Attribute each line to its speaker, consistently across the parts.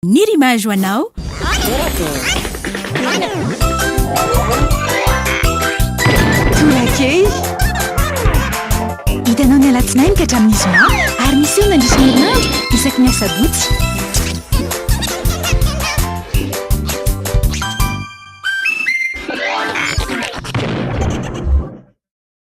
Speaker 1: Ny rima jo anao
Speaker 2: Tolakely Hitanao ny alatsinainy ka hatramin'ny zoma Ary miseho mandritra ny herinandro isaky ny asabotsy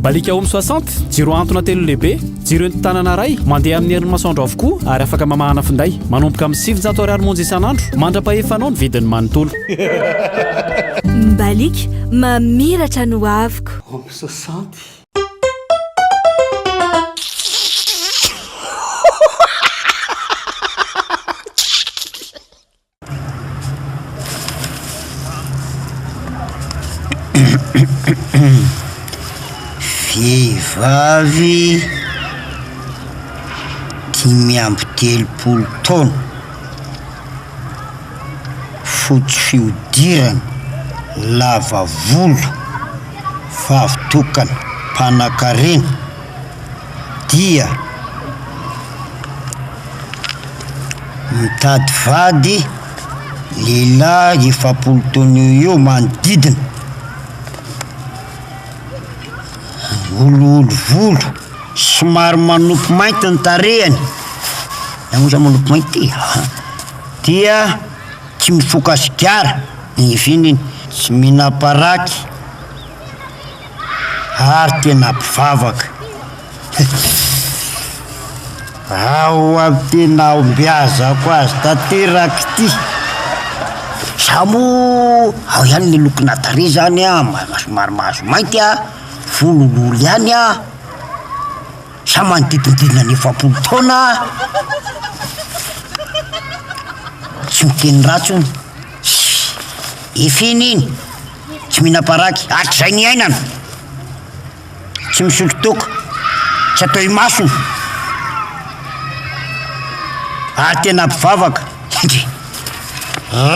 Speaker 3: Mbaliaka Home soixante, jiro antona telo lehibe, jiro entin-tanana iray, mandeha amin'ny herin'ny masoandro avokoa ary afaka mamahana finday. Manomboka amin'ny sivinjato ariary monja isan'andro. Mandra-pahefanao ny vidiny manontolo.
Speaker 4: Mbaliaka, mamiratra ny hoaviko. Home soixante.
Speaker 5: Vehivavy dimy amby telopolo taona, fotsy fihodirana, lava volo, vavy tokana, mpanankarena. dia mitady vady lehilahy efapolo taona eo eo manodidina, olioly volo, somary manopy mainty ny tarehiny, na moa zany manopy mainty ty a, dia tsy mifoka sigara, ny eviany iny, tsy mihinam-paraky. ary tena mpivavaka. Ao amin'ny tena ombiazako azy tanteraka ity. Izaho moa ao ihany ny lokona tarehy izany an, somary mahazo mainty an, volo olioly ihany an, izaho manodidididina ny efapolo taona an, tsy miteny ratsy hono, efa iny iny, tsy mihinam-paraky hatrizay niainana, tsy misotro toaka, tsy atao imasony, ary tena mpivavaka, endrey!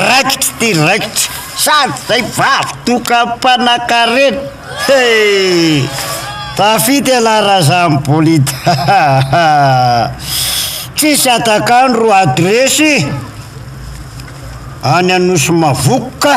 Speaker 5: raikitra ty raikitra, sady zay vavy toaka mpanakarena, hee! tafita ialahy raha za mibolit, hahaha! tsisy hatak'andro adresy any Anosy Mavoka.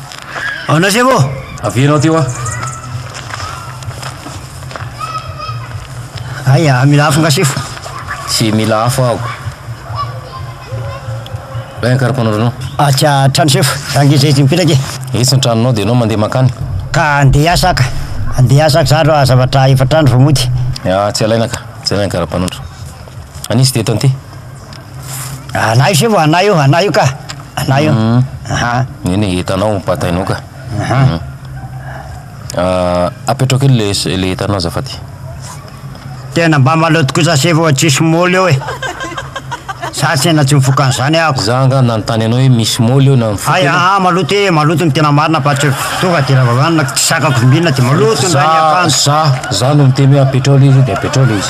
Speaker 5: Ao na sefo ô! Avela ao ty hoa! Aia, mila afo nga sefo? Tsy mila
Speaker 6: afo aho. Lay ny karapanondro anao. Atsy an-trano
Speaker 5: sefo, za nge zay tsy mipetraka e! Etsy ny tranonao dia ianao
Speaker 6: mandeha mankany. Ka andeha hiasa
Speaker 5: aho ka! Andeha hiasa aho ka zandry hoa zavatra efatra andro vao mody. Atsy alaina ka!
Speaker 6: Jerena ny karapanondro. An'iza ity eto an'ity?
Speaker 5: Anay se vao anay io, anay io ka, anay io, aha.
Speaker 6: Eny e, entanao, batainao ka. Aha. Apetraho kely le s- le entanao azafady.
Speaker 5: Tena mba maloto kosa se vao tsisy moly eo e. Za tena tsy mifoka an'izany ahako. Za angaha nanontany anao hoe
Speaker 6: misy moly eo na mifoka Hay, ianao? aha, maloto e,
Speaker 5: maloto ny tena marina fa tsy tonga de raha vao hohanina tsy sakako vimbinina de maloto ny Za, rain'ny akanjo.
Speaker 6: za, za no miteny hoe apetraho le izy de apetraho le izy.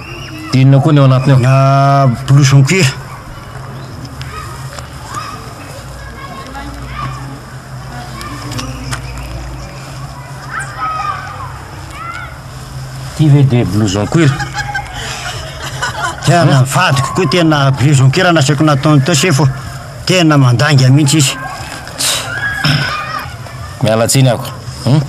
Speaker 5: Inona koa ny ao
Speaker 6: anatiny ao? Ah, blouson cuir. Ty ve dia blouson cuir? Tena
Speaker 5: ny vadiko koa tena blouson cuir no asaiko nataony teo sefo. Tena mandainga mihitsy izy.
Speaker 6: Miala tsiny ako. Hum?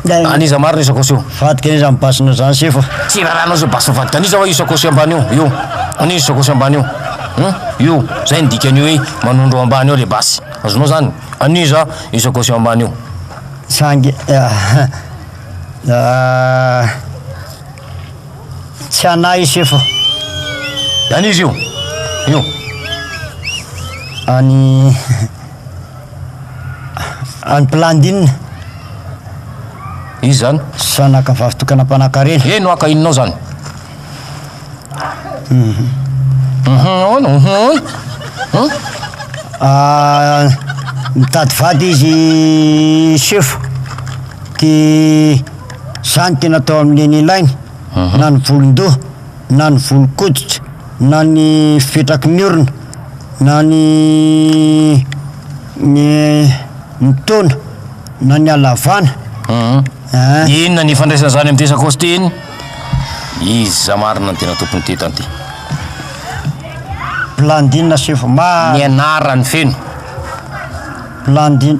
Speaker 6: An'iza marina io sakosy io? Vadiko an'iza mibasina
Speaker 5: zany sefo? Tsy rarahanao zay basy
Speaker 6: vadiko an'iza hoa io sakosy ambany io? Io. An'iza io sakosy ambany io? Hum? Io. Zay ny dikan'io hoe manondro ao ambany ao le basy. Azonao zany? An'iza io sakosy eo ambany io? Sangy ah.
Speaker 5: Ah. Tsy anay i sefo.
Speaker 6: An izy io. Io.
Speaker 5: Any any Plandine.
Speaker 6: Izy zany. Sanaka vavy tokana
Speaker 5: mpanakarena. Eno aka inonao zany.
Speaker 6: Mhm. Mhm. Mhm. Ah,
Speaker 5: mitady vady izy sefo. Ty Izany dia natao amin'ny eny ilainy, na ny volon-doha, na ny volon-koditra, na ny fipetraky ny orona, na ny ny ny taona, na ny halavana.
Speaker 6: An! Inona ny ifandraisan'izany amin'ity sakaosy ity iny? Iza marina no tena tompon'ity tany ity?
Speaker 5: Blandine Sefo Mah. Ny anarany
Speaker 6: feno. Blandine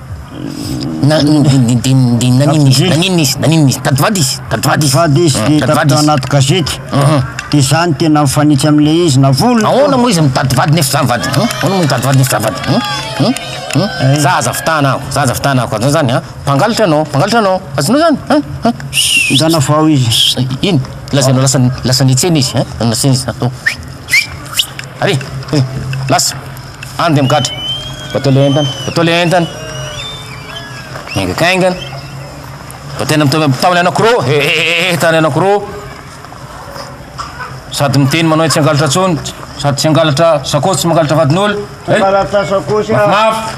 Speaker 5: Na-
Speaker 6: n- n- n- dia- dia naninona izy naninona izy naninona izy tady vady izy tady vady izy Vady izy, Tady hita vady tao izy. anaty
Speaker 5: gazety. Mhm. Dia izany tena mifanitsy amin'ilay izy, na volony. Ahoana moa izy mitady vady
Speaker 6: nefa zany vady? Hum? Ahoana moa mitady vady nefa zany vady? Hum? Hum? Hum? Eh. Za aza fitahana aho, za aza fitahana aho, azonao zany ha? Mpangalatra anao, mpangalatra anao, azonao zany ha? Ha? Zana
Speaker 5: vao izy. Eh, Ino? Lazainao
Speaker 6: lasa lasa nitsena izy ha? Lasa nitsena izy. Atao. Ary, eh, lasa. Any dia migadra. Batao ilay entana. Batao ilay entana. Miaingakaingana. Bataina mitao ilay anankiroa. He he he he tany anankiroa. Sady miteny manao tsy hangalatra intsony. Sady tsy hangalatra sakaosy, tsy mangalatra vadin'olona. Hangalatra sakaosy
Speaker 5: aho. Mafimafy.